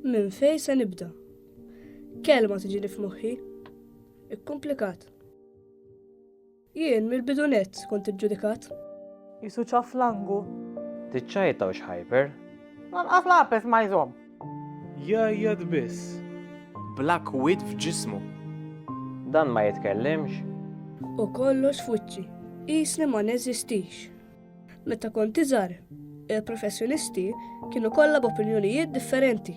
Minn fejn se nibda? Kelma tiġini f'moħħi. Ikkumplikat. Jien mill-bidu nett kont iġġudikat. Qisu ċaħ flangu. Tiċċajta u xħajper. Lanqas l-għapes ma jżomm. Jgħajjat biss. Bla kwiet f'ġismu. Dan ma jitkellimx. U kollox f'wiċċi. Qisni ma neżistix. Meta kont iżgħar, il-professjonisti kienu kollha b'opinjonijiet differenti.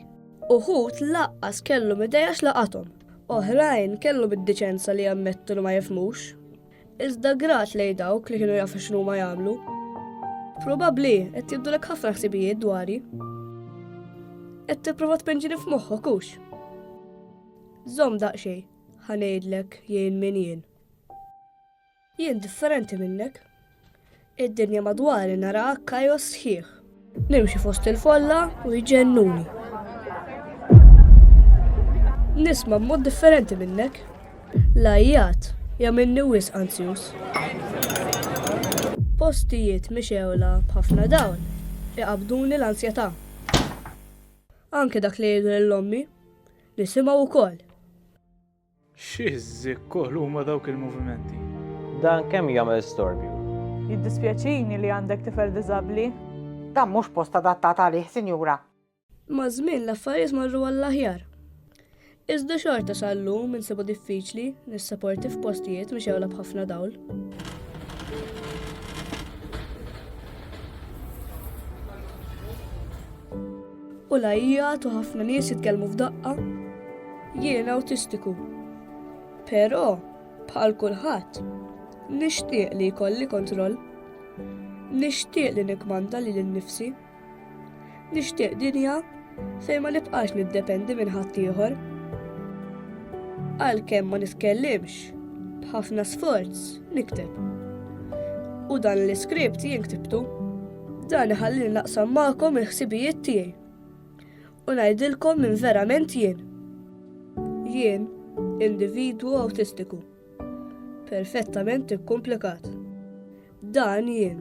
Uħud laqqas kellhom idea x'laqathom, oħrajn kellhom id-diċenza li jammettu li ma jifhmux. Iżda grat lejn dawk li kienu jafu x'inhuma jagħmlu. Probabbli qed jibdulek ħafna ħsibijiet dwari. Qed tipprova tpenġini f'moħħok hux. Żomm daqsxejn, ħa ngħidlek jien min jien. Jien differenti minnek. Id-dinja madwari naraha kajos sħiħ. Nimxi fost il-folla u jġennuni. Nisma' mod differenti minnek. Lajjat, jaminni wis anzjus. Postijiet mixewla b'ħafna dawl, iqabduni l-ansjetà. Anke dak li jgħidu l-ommi, nisimgħu wkoll. Xi żikkoħlu huma dawk il-movimenti! Dan kemm jagħmel storbju! Jiddispjaċini li għandek tifel diżabbli. Dan mhux post adattat għalih, sinjura. Maż-żmien l-affarijiet marru għall-aħjar. Iżda xorta sal-lum insibu diffiċli nissaporti f'postijiet mixewla b'ħafna dawl. U lajjat u ħafna nies jitkellmu f'daqqa. Jien awtistiku. Però, bħal kulħadd, nixtieq li jkolli kontroll. Nixtieq li nikmanda li l-nifsi. Nixtieq dinja fejn ma nibqax niddependi minn ħadd ieħor. Għalkemm ma nitkellimx, b'ħafna sforz nikteb. U dan l-iskript jien ktibtu. Dan iħallini naqsam magħkom il-ħsibijiet tiegħi u ngħidilkom minn verament jien. Jien individwu awtistiku, perfettament ikkumplikat. Dan jien.